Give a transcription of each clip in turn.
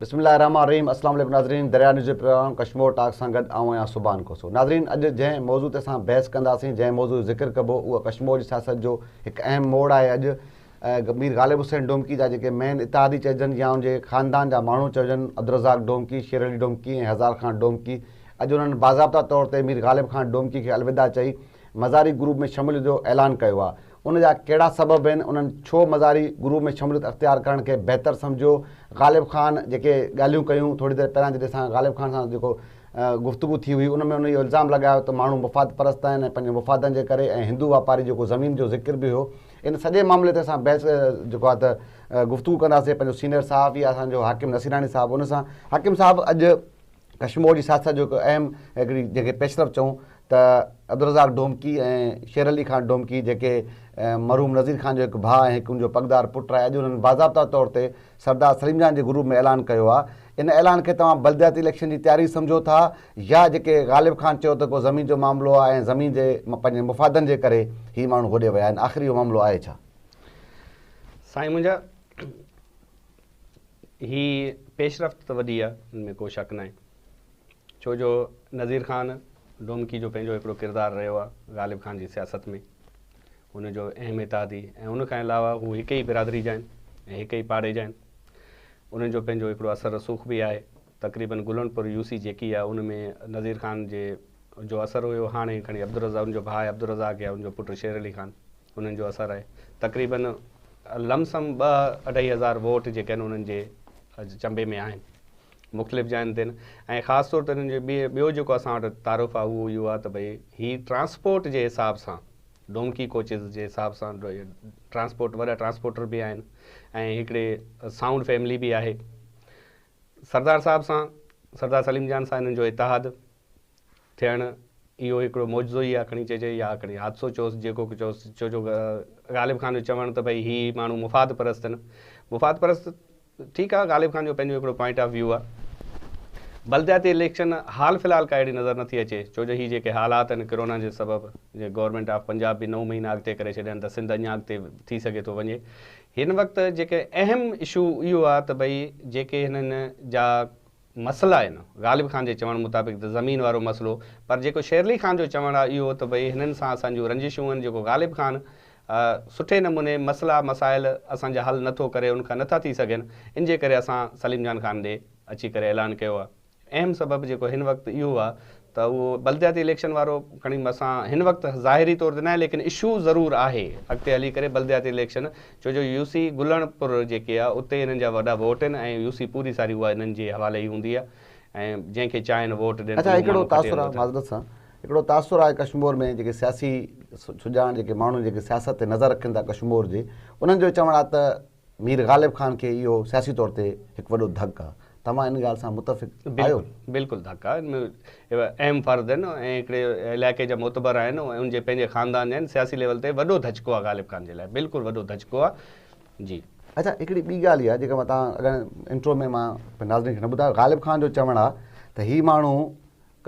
بسم الله الرحمٰن الرحيم اسلام عليڪم ناظرين دريا نيوز جي پروگرام ڪشمور ٽاڪ سان گڏ آئون آهيان سبحان کوسو ناظرين اڄ جنهن موضوع تي اسان بحث ڪنداسين جنهن موضوع جو ذڪر ڪبو اهو ڪشمور جي سياست جو هڪ اهم موڙ آهي اڄ مير غالب حسين ڊومڪي جا جيڪي مين اتحادي چئجن يا ان جي خاندان جا ماڻهو چئجن عبدالرزاق ڊومڪي شير علي ڊومڪي ۽ هزار خان ڊومڪي اڄ انهن باضابطا طور تي مير غالب خان ڊومڪي کي الوداع چئي مزاري گروپ ۾ شموليت جو اعلان ڪيو آهي ان جا ڪهڙا سبب آهن، انهن ڇو مزاري گروء ۾ شموليت اختيار ڪرڻ کي بهتر سمجهيو، غالب خان جيڪي ڳالهيون ڪيون، ٿوري دير پهريان جڏهن اسان غالب خان سان جيڪو گفتگو ٿي هئي، ان ۾ هن اهو الزام لڳايو ته ماڻهو مفاد پرست آهن ۽ پنهنجن مفادن جي ڪري ۽ هندو واپاري جيڪو زمين جو ذڪر به هيو، ان سڄي معاملي تي اسان بحث جيڪو آهي ته گفتگو ڪنداسين، پنهنجو سينئر صحافي آهي اسان جو حاڪم نصيراڻي صاحب ان سان، حاڪم صاحب اڄ ڪشمور جي سياست جو هڪ اهم هڪڙي جنهن کي پيشرفت چئون ته عبدالرزاق ڊومڪي ۽ شير علي خان ڊومڪي جيڪي مرحوم نذير خان جو هڪ ڀاء ۽ هڪ ان جو پڳدار پٽ آهي اڄ انهن باضابطا طور تي سردار سليم جان جي گروپ ۾ اعلان ڪيو آهي ان اعلان کي توهان بلدياتي اليڪشن جي تياري سمجهو ٿا يا جيڪي غالب خان چيو ته ڪو زمين جو معاملو آهي ۽ زمين جي پنهنجي مفادن جي ڪري هي ماڻهو هوڏي ويا آهن آخر اهو معاملو آهي ڇا؟ سائين منهنجا هي پيشرفت ته وڏي آ ان ۾ ڪو شڪ ناهي ڇو جو نظير خان ڊومڪي جو پنهنجو هڪڙو ڪردار رهيو آ غالب خان جي سياست ۾ ان جو اهم اتحادي ۽ ان کان علاوه هو هڪ ئي برادري جا آهن ۽ هڪ ئي پاڙي جا آهن انهن جو پنهنجو هڪڙو اثر رسوخ به آهي تقريبن گلن پور يو سي جيڪي آ ان ۾ نظير خان جي جو اثر هيو هاڻي کڻي عبدالرزاق ان جو ڀاء عبدالرزاق يا ان جو پٽ شير علي خان انهن جو اثر آهي تقريباً لم سم ٻه اڍائي هزار ووٽ جيڪي آهن انهن جي چنبي ۾ آهن مختلف جاين تي ۽ خاص طور تي انهن جو ٻيو جيڪو اسان وٽ تعارف آهي اهو اهو آهي ته ڀئي هي ٽرانسپورٽ جي حساب سان ڊونڪي ڪوچز جي حساب سان ٽرانسپورٽ وڏا ٽرانسپورٽر به آهن ۽ هڪڙي سائونڊ فيملي به آهي سردار صاحب سان سردار سليم جان سان هنن جو اتحاد ٿيڻ اهو هڪڙو معجزو ئي آ کڻي چئجي يا کڻي حادثو چئوس جيڪو به چئوس ڇو جو غالب خان جو چوڻ ته ڀئي هي ماڻهو مفاد پرست آهن مفاد پرست ٺيڪ آ غالب خان جو پنهنجو هڪڙو پوائنٽ آف ويو آ بلدياتي اليڪشن حال في الحال ڪا اهڙي نظر نٿي اچي ڇو جو هي جيڪي حالات آهن ڪرونا جي سبب جي گورنمينٽ آف پنجاب به نو مهينا اڳتي ڪري ڇڏيان ته سنڌ اڃا اڳتي ٿي سگهي ٿو وڃي هن وقت جيڪي اهم اشو اهو آ ته ڀئي جيڪي هنن جا مسئلا آهن. غالب خان جي چوڻ مطابق ته زمين وارو مسئلو پر جيڪو شيرلي خان جو چوڻ آهي اهو ته ڀئي هنن سان اسان جون رنجشون آهن جيڪو غالب خان سٺي نموني مسئلا مسائل اسان جا حل نٿو ڪري ان کان نٿا ٿي سگهن ان جي ڪري اسان سليم جان خان ڏي اچي ڪري اعلان ڪيو آهي اهم سبب جيڪو هن وقت اهو آهي ته اهو بلدياتي اليڪشن وارو کڻي مسان هن وقت ظاهري طور تي ناهي ليڪن اشو ضرور آهي اڳتي هلي ڪري بلدياتي اليڪشن ڇو جو يو سي گلڻ پور جيڪي آهي اتي هنن جا وڏا ووٽ آهن ۽ يو سي پوري ساري اها هنن جي حوالي ئي هوندي آهي ۽ جنهن کي چاهين ووٽ ڏين ته اهو ماڻهو کٽي هلندو اٿن. معذرت سان هڪڙو تاثر آهي ڪشمور ۾ جيڪي سياسي سڄاڻ جيڪي ماڻهو جيڪي سياست تي نظر رکن ٿا ڪشمور جي انهن جو چوڻ آهي ته. مير غالب خان کي اهو سياسي طور تي هڪ وڏو ڌڪ آ. توهان ان ڳالهه سان متفق آهيو؟ بلڪل بلڪل ڌڪ آ. ان ۾ اهم فرد آهن ۽ هڪڙي علائقي جا معتبر آهن ۽ ان جي پنهنجي خاندان جا آهن. سياسي ليول تي وڏو ڌچڪو آ غالب خان جي لاء. بلڪل وڏو ڌچڪو آ. جي. اچا هڪڙي ٻي ڳالهه اها جيڪا توهان اڳ انٽرو ۾ مان ناظرين کي نه ٻڌايو غالب خان جو چوڻ آ ته هي ماڻهو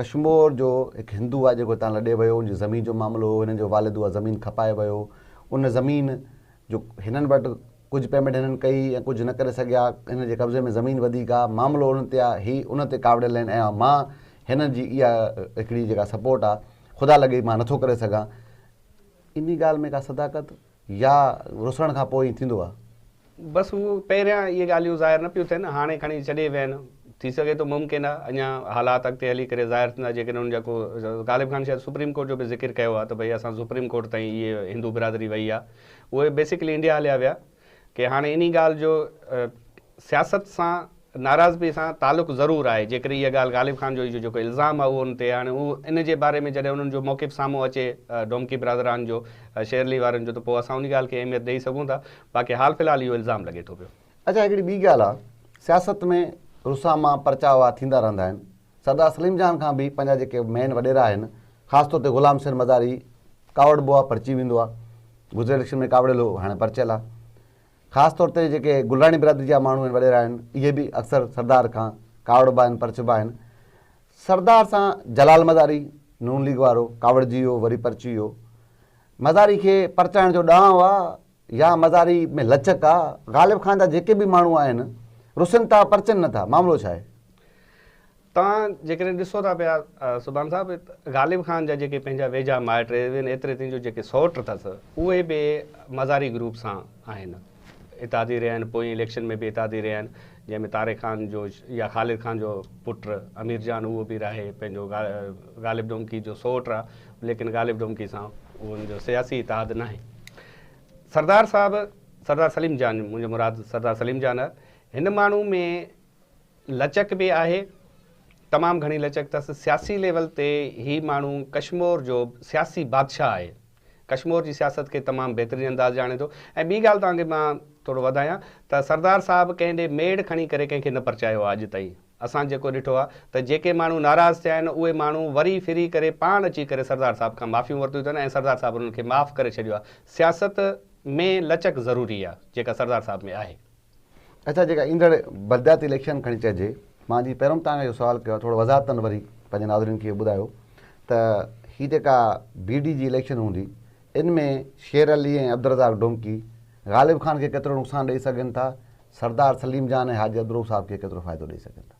ڪشمور جو هڪ هندو آ جيڪو هتان لڏي ويو ان جي زمين جو معاملو هو هنن جو والد اها زمين کپائي ويو ان زمين جو هنن وٽ ڪجهه پيمينٽ هنن ڪئي ۽ ڪجهه نه ڪري سگهيا، هنن جي قبضي ۾ زمين وڌيڪ آ، معاملو ان تي آ، هي ان تي ڪاوڙيل آهن ۽ مان هنن جي اها هڪڙي جيڪا سپورٽ آ، خدا لڳي مان نٿو ڪري سگهان. انهي ڳالهه ۾ ڪا صداقت يا رسڻ کان پوء ائين ٿيندو آ؟ بس هو پهريان اهي ڳالهيون ظاهر نه پيون ٿين، هاڻي کڻي چڏي ويا آهن، ٿي سگهي ٿو ممڪن آهي اڃا حالات اڳتي هلي ڪري ظاهر ٿيندا جيڪڏهن ان جا ڪو غالب خان شايد سپريم ڪورٽ جو به ذڪر ڪيو آهي ته ڀئي اسان سپريم ڪورٽ تائين اهي هندو برادري وئي آهي اهي بيسيڪلي انڊيا هليا ويا ڪي هاڻي انهي ڳالهه جو سياست سان ناراضپي سان تعلق ضرور آهي جيڪر اها ڳالهه غالب خان جو جو جيڪو الزام آهي اهو ان تي هاڻي اهو ان جي باري ۾ جڏهن انهن جو موقف سامهون اچي ڊومڪي برادران جو شيرلي وارن جو ته پوء اسان انهي ڳالهه کي اهميت ڏئي سگهون ٿا باقي حال في الحال اهو الزام لڳي ٿو پيو. اچا هڪڙي ٻي ڳالهه آ سياست ۾ رساما پرچاء واه ٿيندا رهندا آهن سردار سليم جان کان به پنهنجا جيڪي مين وڏيرا آهن خاص طور تي غلام حسين مزاري ڪاوڙبو آ پرچي ويندو آ گذريل اليڪشن ۾ ڪاوڙيل هو هاڻي پرچيل آ خاص طور تي جيڪي گلراڻي برادري جا ماڻهو آهن وڏيرا آهن اهي به اڪثر سردار کان ڪاوڙبا آهن پرچبا آهن سردار سان جلال مزاري نون ليگ وارو ڪاوڙجي ويو وري پرچي ويو مزاري کي پرچائڻ جو ڏانء آ يا مزاري ۾ لچڪ آ. غالب خان جا جيڪي به ماڻهو آهن رسن ٿا پرچن نه ٿا معاملو ڇا آهي؟ توهان جيڪڏهن ڏسو ٿا پيا سبحان صاحب غالب خان جا جيڪي پنهنجا ويجها مائٽ ايون ايتري تائين جو جيڪي سئوٽ اٿس اهي به مزاري گروپ سان آهن اتحادي رهيا آهن پوئين اليڪشن ۾ به اتحادي رهيا آهن جنهن ۾ طارق خان جو يا خالد خان جو پٽ امير جان اهو به راهي پنهنجو غالب ڊومڪي جو سوٽ آ ليڪن غالب ڊومڪي سان ان جو سياسي اتحاد ناهي سردار صاحب سردار سليم جان منهنجو مراد سردار سليم جان آ هن ماڻهو ۾ لچڪ به آهي تمام گهڻي لچڪ تس سياسي ليول تي هي ماڻهو ڪشمور جو سياسي بادشاهه آهي ڪشمور جي سياست کي تمام بهترين انداز ڄاڻي ٿو ۽ ٻي ڳالهه توهان کي مان ٿورو وڌايان ته سردار صاحب ڪنهن ڏي ميڙ کڻي ڪري ڪنهن کي نه پرچايو آهي اڄ تائين اسان جيڪو ڏٺو آهي ته جيڪي ماڻهو ناراض ٿيا آهن اهي ماڻهو وري ڦري ڪري پاڻ اچي ڪري سردار صاحب کان معافيون ورتيون اٿن ۽ سردار صاحب انهن کي معاف ڪري ڇڏيو آهي سياست ۾ لچڪ ضروري آهي جيڪا سردار صاحب ۾ آهي. اچا جيڪا ايندڙ بلدياتي اليڪشن کڻي چئجي مان جي پهريون توهان کي اهو سوال ڪيو آهي ٿورو وضاحت تن وري پنهنجي ناظرين کي ٻڌايو ته هي جيڪا بي ڊي جي اليڪشن هوندي ان ۾ شير علي ۽ عبدالرزاق ڊومڪي غالب خان کي ڪيترو نقصان ڏئي سگهن ٿا سردار سليم جان ۽ حاجي عبدالروف صاحب کي ڪيترو فائدو ڏئي سگهن ٿا.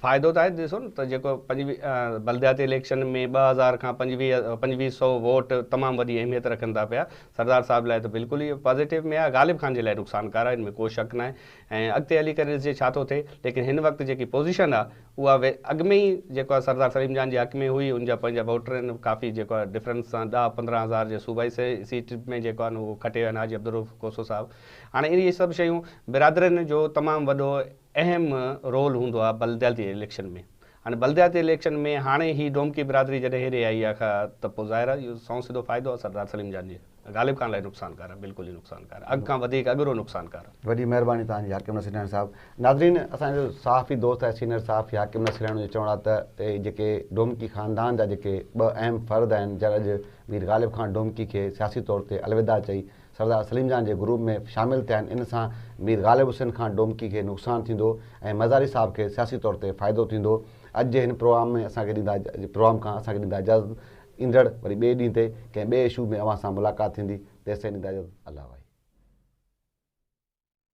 فائدو ته آهي ڏسو نه ته جيڪو پنجويهه بلدياتي اليڪشن ۾ ٻه هزار کان پنجويهه پنجويهه سئو ووٽ تمام وڏي اهميت رکن ٿا پيا سردار صاحب لاء ته بلڪل ئي پازيٽو ۾ آهي غالب خان جي لاء نقصان ڪار آهي ان ۾ ڪو شڪ ناهي ۽ اڳتي هلي ڪري ڏسجي ڇا ٿو ٿئي ليڪن هن وقت جيڪي پوزيشن آهي اها اڳ ۾ ئي جيڪو آهي سردار سليم جان جي حق ۾ هئي ان جا پنهنجا ووٽر آهن ڪافي جيڪو آهي ڊفرنس سان ڏهه پندرهن هزار جي صوبائي سيٽ ۾ جيڪو آهن اهو کٽي ويا آهن حاجي عبدالروف کوسو صاحب هاڻي اهي سڀ شيون برادرين جو تمام وڏو اهم رول هوندو آهي بلدياتي اليڪشن ۾ هاڻي بلدياتي اليڪشن ۾ هاڻي هي ڊومڪي برادري جڏهن هيڏي آئي آهي ته پوء ظاهر آهي اهو سنئون سڌو فائدو آهي سردار سليم جان جي غالب خان لاء نقصانڪار آهي بلڪل ئي نقصانڪار آهي اڳ کان وڌيڪ اڳرو نقصانڪار آهي. وڏي مهرباني توهان جي حاڪم نصير لهڻ صاحب. ناظرين اسان جو صحافي دوست آهي سينئر صحافي حاڪم نصير لهڻ جو چوڻ آهي ته اهي جيڪي ڊومڪي خاندان جا جيڪي ٻه اهم فرد آهن جن اڄ مير غالب خان ڊومڪي کي سياسي طور تي الوداع چئي سردار سليم جان جي گروپ ۾ شامل ٿيا آهن، ان سان مير غالب حسين خان ڊومڪي کي نقصان ٿيندو ۽ مزاري صاحب کي سياسي طور تي فائدو ٿيندو. اڄ جي هن پروگرام ۾ اسان کي ڏيندا پروگرام کان اسان کي ڏيندا اجازت ايندڙ وري ٻئي ڏينهن تي ڪنهن ٻئي اشو ۾ اوهان سان ملاقات ٿيندي تيسين ڏيندا اجازت الله وائي.